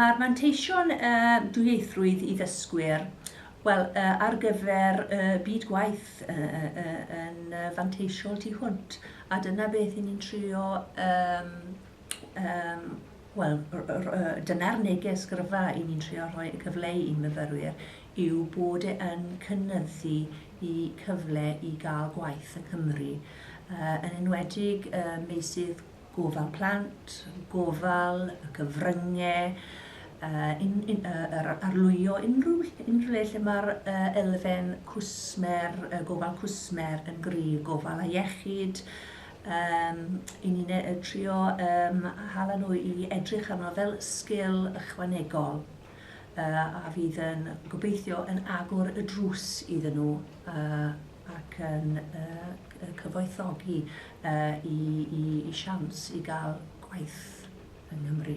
Mae'r manteision uh, dwyieithrwydd i ddysgwyr, wel, uh, ar gyfer uh, byd gwaith uh, uh, yn uh, fanteisiol tu hwnt, a dyna beth i ni'n trio um, yym wel r- r- yy dyna'r neges gryfa 'y ni'n trio rhoi y cyfle i myfyrwyr yw bod e yn cynyddu 'u cyfle i ga'l gwaith yng Nghymru yy yn enwedig y meysydd gofal plant, gofal, y cyfrynge yy un- un- yy yr a- arlwyo unrhyw ll- unrhyw le lle ma'r yy elfen cwsmer yy gofal cwsmer yn gryf, gofal a iechyd Yym, i ni ne- yy trio yym a hala nhw i edrych arno fel sgil ychwanegol yy a fydd yn gobeithio yn agor y drws iddyn nhw yy ac yn yy c- yy cyfoethogi yy i i i siawns i ga'l gwaith yng Nghymru.